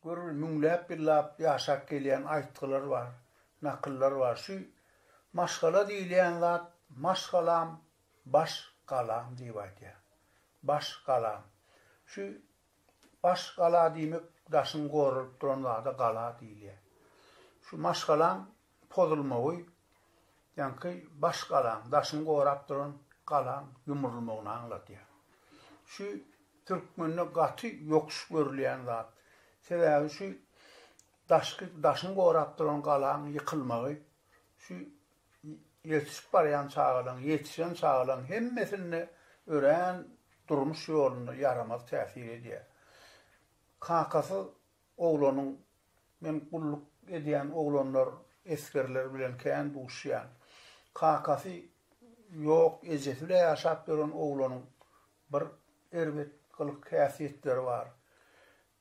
Gör, müňläp ýyllap ýaşap gelýän aýtgylar bar, nakyllar bar. Şu maşgala diýilýän zat Maş galam, baş galam diýip aýdýar. Baş galam. Şu baş gala diýmek daşyň goralyp duran zada gala diýilýär. Şu maşgalaň pozulmagy, ýaňky baş galaň, daşyňy gorap duran galaň ýumrulmagyny aňladýar. Şu türkmende gaty ýokuş görülýän zat. Sebäbi şu daşky, daşyňy gorap duran galaň ýykylmagy, şu ýetişip barýan çagalaň, ýetişen çagalaň hemmesinde örän durmuş ýolunda ýaramaz täsir edýär. Kakasyz Oglanyň, Men gulluk edýän oglanlar, esgerler bilen kän duşýan. Kakasy ýok, ejesi bile ýaşap ýören oglanyň bir erbet gylyk-häsiýetleri bar.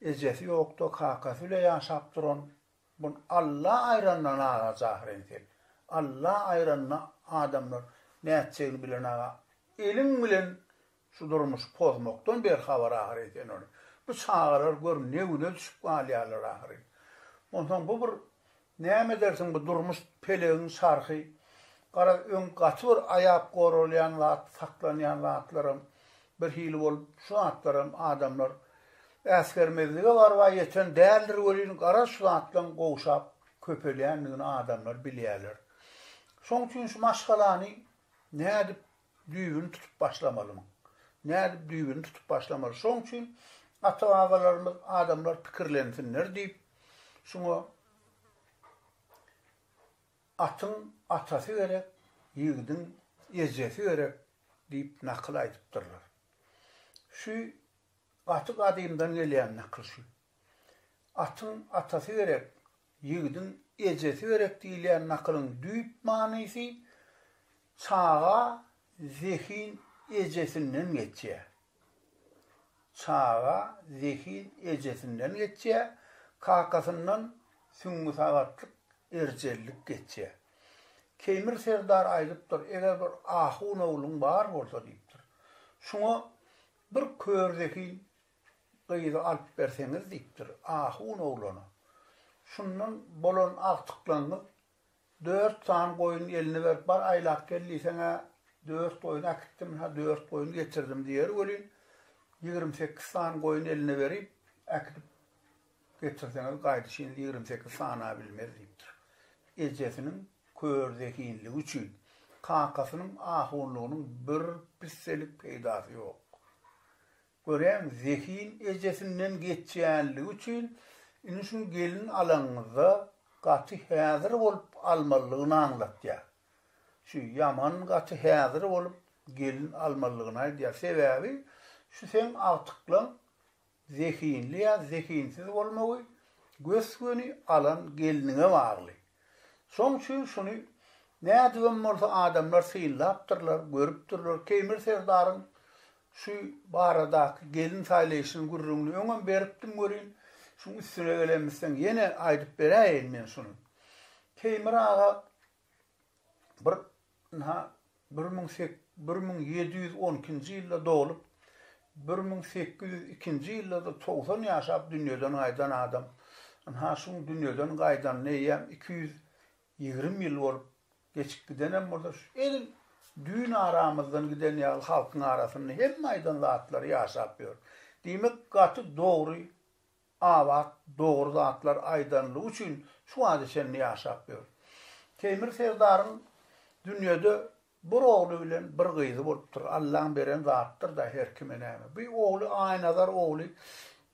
Ejesi ýok-da, kakasy bile ýaşap duran bu Alla aýranda naga jahyr entek. Alla aýranda adamlar nätjegini bilenaga eliň bilen Şu durmuşy pozmakdan berhabar ahyry sen ol. Bu çagalar gör ne güne düşüp galýarlar ahyry. Onsoň bu bir näme edersiň bu durmuş pelegiň çarhy. Garaz öň gaty bir aýap goralýan zat, saklanýan zatlaram bir hili bolup şu zatlaram adamlar äsgermezlige barba ýeten däldir welin garaz şu zatlaň gowşap köpelýändigini adamlar bilýärler. Şoň üçin şu maşgalany nädip Düýbüni tutup başlamalymyň? Nädip düýbüni tutup başlamaly? Şoň üçin ata-babalarymyz adamlar pikirlensinler diýip, şuňa Atyň atasy gerek, ýigidiň ejesi gerek diýip nakyl aýdypdyrlar. Şu gaty gadymdan gelýän nakyl şu. Atyň atasy gerek, Ýigidiň ejesi gerek diýilýän nakylyň düýp manysy çaga zehin ejesinden geçýär. Çaga zehin ejesinden geçýär, kakasyndan süňňüsagaklyk, erjellik geçýär. Keýmir serdar aýdypdyr, eger bir ahun ogluň bar bolsa diýipdir. Şuňa bir kör zehin gyzy alyp berseňiz diýipdir ahun oglana. Şundan bolan agtyklaňyz dört sany goýun eline berip bar aýlap gel diýseň-ä dört goýun äkitdim, ha dört goýun getirdim diýer welin, ýigrimi sekiz sany goýun eline berip, äkidip getirseňiz gaýdyşyn ýigrimi sekiz sana bilmez diýipdir. Ejesiniň kör zehinligi üçin kakasynyň ahunlygynyň bir pisselik peýdasy ýok. Göräň, zehin ejesinden geçýänligi üçin, indi şuny gelin alanyňyzda gaty häzir bolup almalydygyny aňlatýar. Şu ýaman gaty häzir bolup gelin almalydygyny aýdýar. Sebäbi şu seň agtyklaň zehinli ýa zehinsiz bolmagy gös-göni alan gelniňe bagly. Şoň üçin şuny nädibem bolsa adamlar synlapdyrlar, görüpdirler. Keýmir serdaryň Şu baradaky gelin saýlaýşynyň gürrüňini öňem beripdim welin, şuň üstüne gelemizseň ýene aýdyp beräýeýin men şuny. Teýmir aga bir ynha bir müň sek bir müň ýedi ýüz on ikinji ýylda doglup, bir müň sekiz ýüz ikinji ýylda-da togsan ýaşap dünýeden gaýdan adam. Ynha şuň dünýeden gaýdanyna eýýäm iki ýüz ýigrimi ýyl bolup Geçip gidenem bolsa şu edil düýn aramyzdan giden ýaly halkyň arasynda hemme aýdan zatlary ýaşap ýör. Diýmek gaty dogry Abat dogry zatlar aýdanlygy üçin şu wagta çenli ýaşap ýör. Teýmir serdaryň dünýede bir ogly bilen bir gyzy bolupdyr. Allaň beren zatdyr-da her kime näme. Bu ogly Aýnazar ogly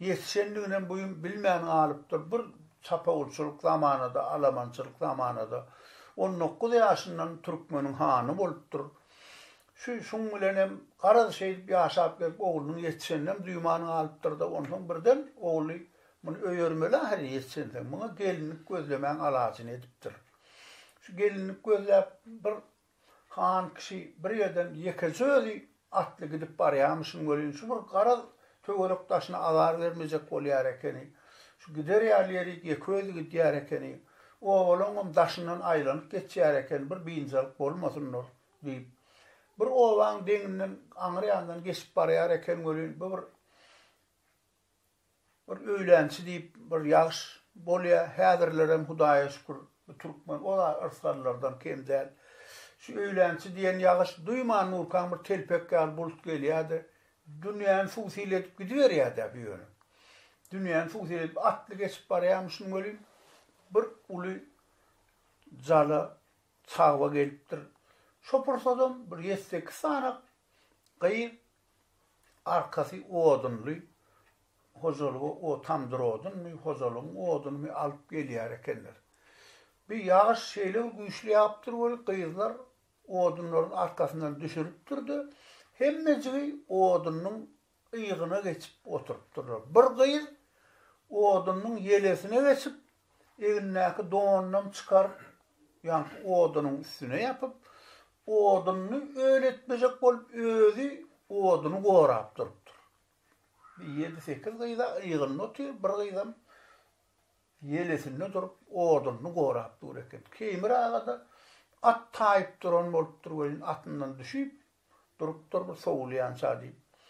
Ýetişendiginem bu gün bilmän galypdyr. Bir çapawulçylyk zamanada, alamançylyk zamanada on dokuz ýaşyndan türkmeniň hany bolupdyr. Şu, şuň bilenem garaz şeýdip ýaşap gelip oglunyň ýetişeninem duýman galypdyr-da, onsoň birden ogly Muny öýermeli ahyryn ýetişensoň. Muňa gelinlik gözlemäň alajyny edipdir. Şu gelinlik gözläp bir Han kişi bir ýerden ýekeje özi atly gidip barýamyşyn welin, şu bir garaz töwerek daşyna azar bermejek bolýar ekeni. Şu gider ýaly ýeri ýeke özi gidýär ekeni. Obalaňam daşyndan aýlanyp geçýär eken, bir biynjalyk bolmasynlar diýip, bir obaň deňinden aňryýandan geçip barýar eken welin, bu bir. Bir öýlänçi diýip bir ýagş bolýa häzirlerem hudaýa şükür bu türkmen ora yrsgallardan kem däl. Şu öýlänçi diýen ýagyş duýman durkaň bir telpek ýaly bulut gelýäde dünýäni suw-sil edip gidiberýädä bu ýöne. Dünýäni suw-sil edip atly geçip barýamyşyn welin bir uly jala çagba gelipdir. Şo pursadam bir ýetsekiz sany gyz Arkasy odunly hojalyga o tamdyr odunmy, hojalygyň odunymy alyp gelýär ekenler. Bir ýagyş şeýle bir güýçli ýagypdyr weli, gyzlar odunlaryň arkasyndan düşüripdir-de, hemmejigi odunyň yýgyna geçip oturypdyrlar. Bir gyz odunyň ýelesine geçip, Egnindäki donunam çykaryp, ýaňky odunyň üstüne ýapyp, oduny öletmejek bolup, özi oduny gorap durupdyr. Bir ýedi-sekiz gyz-a yzynda otyr, bir gyzam ýelesinde durup, oduny gorap dur eken. Keýmir aga-da at taýyp duran bolupdyr welin, atyndan düşüp, durupdyr bir sowulýança diýip.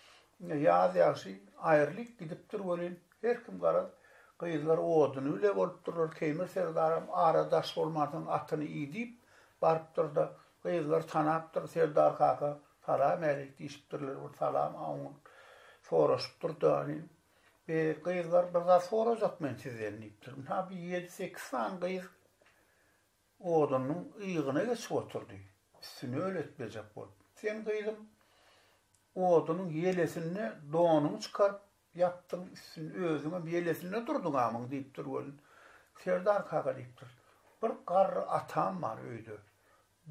Indi ýaz ýagşy aýrylyp gidipdir welin, her kim garaz, gyzlar oduny bile bolupdyrlar, Keýmir serdaram ara daş bolmansoň atyny idip barypdyr-da, gyzlar tanapdyr, Serdar kaka, salam äýt diýşipdirler, bir salam aňňur soraşypdyr-da, Be, gyzlar, bir zat sorajak men sizden diýipdir. Ynha, bir ýedi-sekiz sany gyz Odunyň yýgyna geçip oturdy. Üstüni öletmejek bolup. Sen, gyzym, odunyň ýelesinde donuňy çykaryp ýapdyň, üstünde özüňem ýelesinde durduň amyň, diýipdir welin, Serdar kaka diýipdir, bir garry atam bar öýde,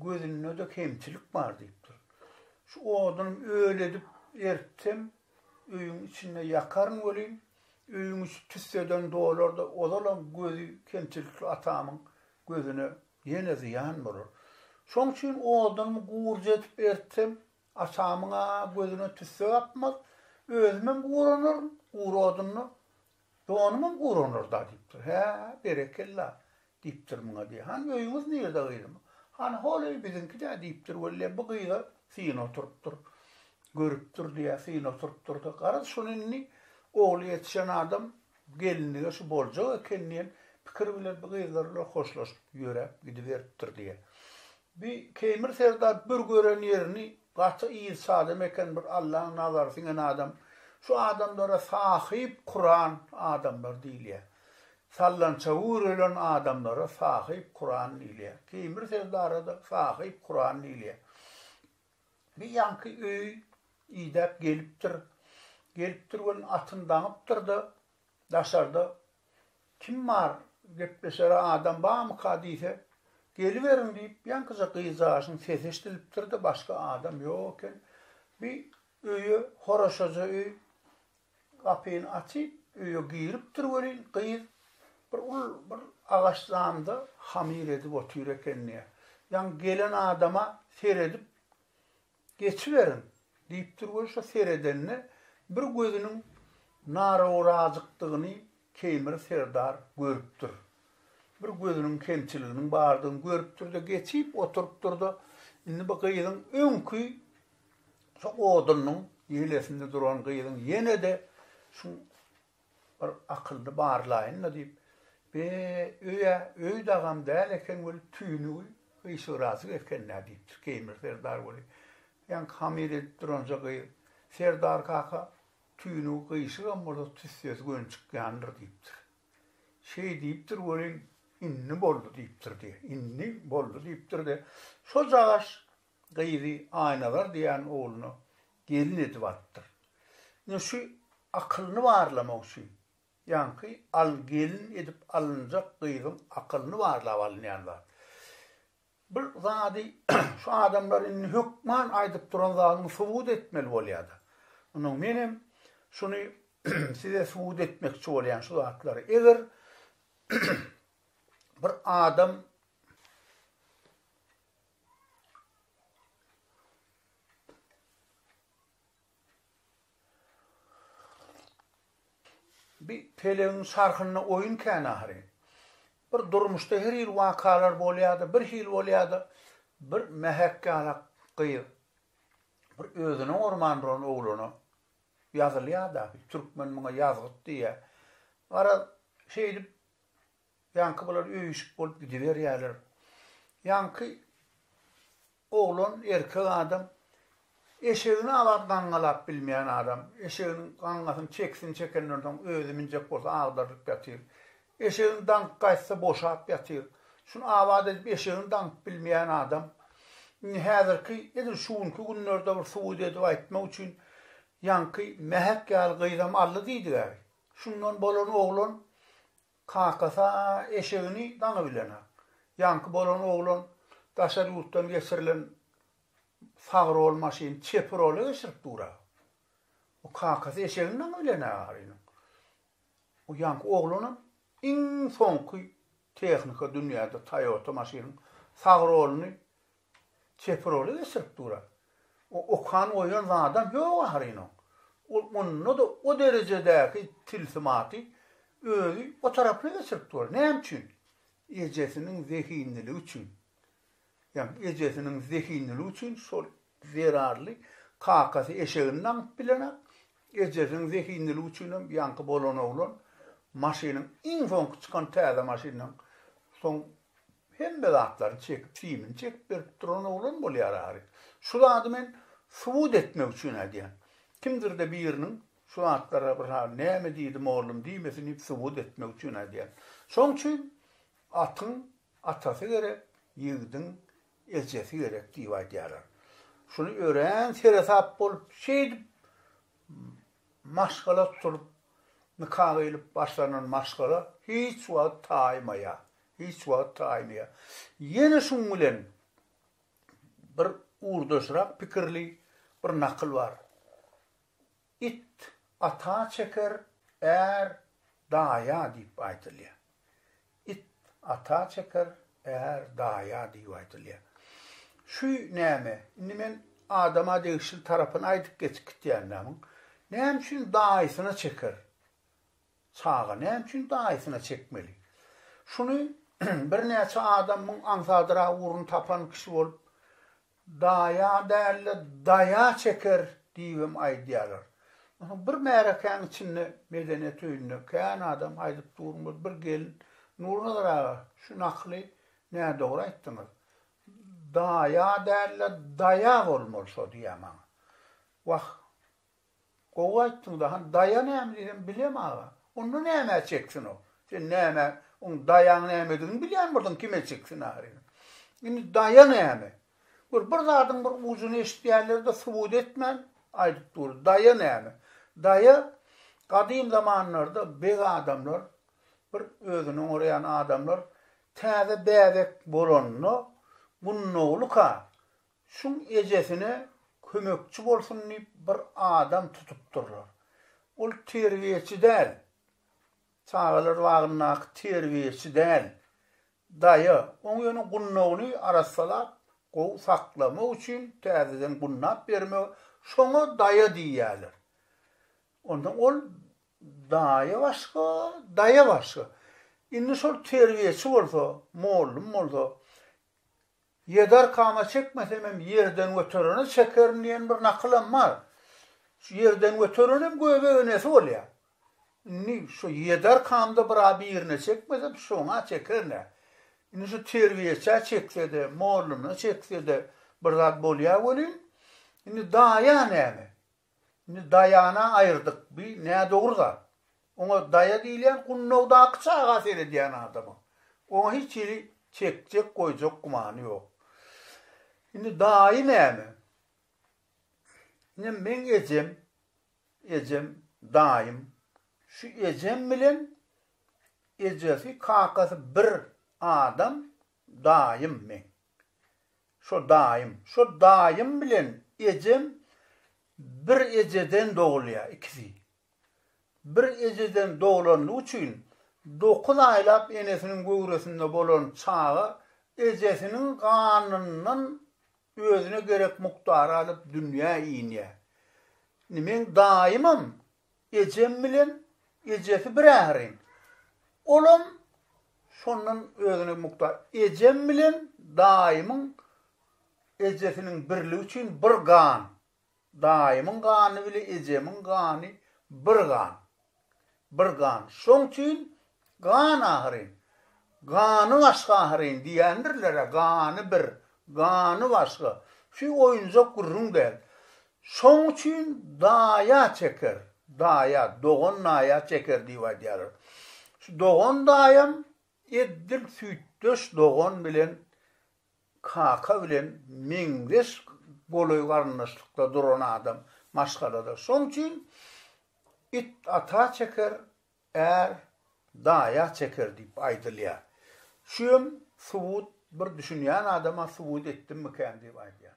gözünde-de kemçilik bar diýipdir. Şu oduny öledip eritsem, Öýüň içinde ýakaryn welin, öýüň içi tüsseden dolar-da, ozalam gözi kemçilikli atamyň gözüne ýene zyýan bolar. Şoň üçin odunymy gurja edip eritsem, atamyň-a gözüne tüsse gapmaz, özümem guranaryn, gury odunda donumam guranar-da, diýipdir. Hä, berekella! Diýipdir muňa diýýär. Hany öýüňiz nirde gyzym? Hany hol öý biziňki-dä diýipdir. Weli bu gyza syn oturypdyr. Görüpdir diýýär, syn oturypdyr-da, garaz şuny indi ogly ýetişen adam gelinlige şu boljak eken diýen pikir bilen bu gyzlar bilen hoşlaşyp ýöräp gidiberipdir diýýär. Bi Keýmir serdar bir gören ýerini gaty yz adam eken bir Allaň nazary siňen adam şu adamlara sahyp kuran adamlar diýilýä sallança üwrelen adamlara sahyp kuran diýilýä Keýmir serdarada sahyp kuran diýilýä bi ýaňky öýi idäp gelipdir gelipdir welin atyn daňypdyrda Daşarda kim bar, gepleşere adam barmyka diýse, Geliberiň diýip, ýaňkyja gyzjagaşyň sesi eşidilipdir-de, başga adam ýok eken. Bir öýe, horaşaja öý, gapyny açyp, öýe giripdir welin, gyz bir uly bir agaç zamda hamyr edip otyr eken diýýär. Ýaňky gelen adama seredip, Geçiberiň! diýip dur we şo seredende bir gözüniň narawrajykdygyny Keýmir serdar görüpdir. Bir gözüniň kemçiliginiň bardygyny görüpdir-de, geçip oturypdyr-da, indi bu gyzyň öňki şo odunyň ýelesinde duran gyzyň ýene-de şuň Bir akylly barlaýyn-da diýip, Be, öý-ä, öý dagam däl eken weli, tüýnügi gyşygrajyk eken-dä diýipdir Keýmir serdar weli. Ýaňky hamyr edip duranja gyz, Serdar kaka, tüýnügi gyşygam bolsa tüssesi gönçük ýandyr diýipdir. Şeý diýipdir welin, Indi boldy diýipdir-de, indi boldy diýipdir-de, şo jagaş gyzy Aýnazar diýen ogluna gelin edip alypdyr. Indi şu akylyny barlamak üçin, ýaňky al gelin edip alynjak gyzyň akylyny barlap alynýan zat. Bu zady şu adamlar indi hökman aýdyp duran zadyny subut etmeli bolýar-da. Indi menem şuny size subut etmekçi bolýan şu zatlary. Eger bir adam Bi pelegiň çarhynda oýun kän ahyryn. Bir durmuşda her hili wakalar bolýada, bir hili bolýada, bir mähek ýala gyz, bir özüne gorman duran oglana ýazylýada, türkmen muňa ýazgyt diýýä. Garaz, şeýdip Ýaňky bular öýüşik bolup gidiberýärler. Ýaňky oglan, erkek adam eşegini abat gaňňalap bilmeýän adam. Eşeginiň gaňňasyny, çekisini çekenden soň özi minjek bolsa agdarylyp ýatyr. Eşegini daňyp gaýtsa boşap ýatyr. Şuny abat edip eşegini daňyp bilmeýän adam. Indi häzirki edil şu günki günlerde bir subut edip aýtmak üçin ýaňky mähek ýaly gyzam aldy diýdiga. Şundan bolan oglan Kakasy-a eşegini daňy bilen-ä. Ýaňky bolan oglan daşary ýurtdan geçirilen sag rol maşyny çep rola geçirip dur-a. Bu kakasy eşegini daňy bilen-ä arynyň. Bu ýaňky oglanam iň soňky tehnika dünýäde Toyota maşynyň sag roluny Çepiroly geçirip dur-a. O okan goýan zadam ýok ahyryn oň. Ol onda-da o derejedäki tilsimaty özi o tarapyna geçirip dur. Näme üçin? Ejesiniň zehinliligi üçin. Ýa ejesiniň zehinliligi üçin şol zerarly kakasy eşegini daňyp bilenok. Ejesiniň zehinliligi üçinem ýaňky bolan oglan maşynyň iň soňky çykan täze maşyndan soň Hemme zatlaryny çekip, simini çekip berip duran oglan bolýar Arik. Şu zady men subut etmek üçin aýdýan. Kimdir-de biriniň şu zatlara bir hal näme diýdi mollum diýmesin diýip subut etmek üçin aýdýan. Şoň üçin atyň atasy gerek, ýigidiň ejesi gerek diýip aýdýarlar. Şuny örän seresap bolup, şeýdip Maşgala tutulyp, nika gyýlyp başlanan maşgala hiç wagt taýmaýar, hiç wagt taýmaýar. Ýene şuň bilen bir ugurdaşrak pikirli bir nakyl bar, It ata çeker, är daýa diýip aýdylýar. It ata çeker, är daýa diýip aýdylýar. Şu näme, indi men adama degişli tarapyny aýdyp geçip gitýänmi muň? Näme üçin daýysyna çeker? Çaga näme üçin daýysyna çekmeli? Şuny birnäçe adam muň aňsadyrag ugruny tapan kişi bolup, Daýa däl-de, daýa çeker diýibem aýdýarlar. Onsoň bir märekäniň içinde medeniýet öýünde kän adam aýdyp durmaz, bir gelin, Nurnazar aga, şu nakyly nädogry aýtdyňyz. Daýa däl-de, daýa bolmaly şo diýýär maňa. Wah, Gowy aýtdyňda han daýa näme diýsem bilem aga onda nämä çeksin o sen nämä oň daýaň nämedigini bilýän bolsaň kime çeksin ahyryn indi daýa näme gör bir zadyň bir ujuny eşitýänlerde subut etmän aýdyp dur daýa näme daýa gadym zamanlarda beg adamlar bir özüni oňaraýan adamlar täze bäbek bolanda gunnoglyka Şum ejesine kömekçi bolsun diýip bir adam tutupdyrlar. Ol terbiýeçi däl, çagalar bagyndaky terbiýeçi däl, daýa. Oň ýöne gundagyny arassalap, gowy saklamak üçin täzeden gundap bermegi, şoňa daýa diýýärler. Onsoň ol daýa başga, daýa başga. Indi şol terbiýeçi bolsa, mollum bolsa, Ýedi arkama çekmesemem ýerden göterene çekerin diýen bir nakylam bar. Şu ýerden göterenem göbek enesi bolýa. Indi şu ýedi arkamda bir a birine çekmesem şoňa çekerin-ä. Indi şu terbiýeçä çeksede, molluna çeksede bir zat bolýa welin, indi daýa näme? Indi Daýana aýyrdyk, bi nädogry zat. Oňa Daýa diýilýän Gunnowdaky çaga seredýän adama. Oňa hiç hili çekjek, goýjak gümany ýok. Indi Daýy näme? Ine meň ejem, ejem, Daýym. Şu ejem bilen ejesi, kakasy bir adam, Daýym meň. Şo daýym. Şo daýym bilen ejem bir ejeden dogulýar, ikisi. Bir ejeden doglandygy üçin dokuz aýlap enesiniň göwresinde bolan çaga ejesiniň ganyndan özüne gerek mukdary alyp dünýä inýär. Indi meň daýymam Ejem bilen ejesi bir ährin. Olam şondan özüne mukdaç. Ejem bilen daýymyň ejesiniň birligi üçin bir gan. Daýymyň gany bile ejemiň gany bir gan. Bir gan. Şoň üçin Gan ahyryn. Gany başga ahyryn diýendirler-ä, gany bir, gany başga. Şu oýunjak gürrüň däl. Şoň üçin daýa çeker, daýa, dogan naýa çeker diýip aýdýarlar. Şu dogan-daýam eddil süýtdeş dogan bilen kaka bilen meňzeş golaý garyndaşlykda duran adam maşgalada. Şoň üçin it ata çeker, Är daýa çeker diýip aýdylýar. Şu hem subut bir düşünýän adama subut etdimmikän diýip aýdýan.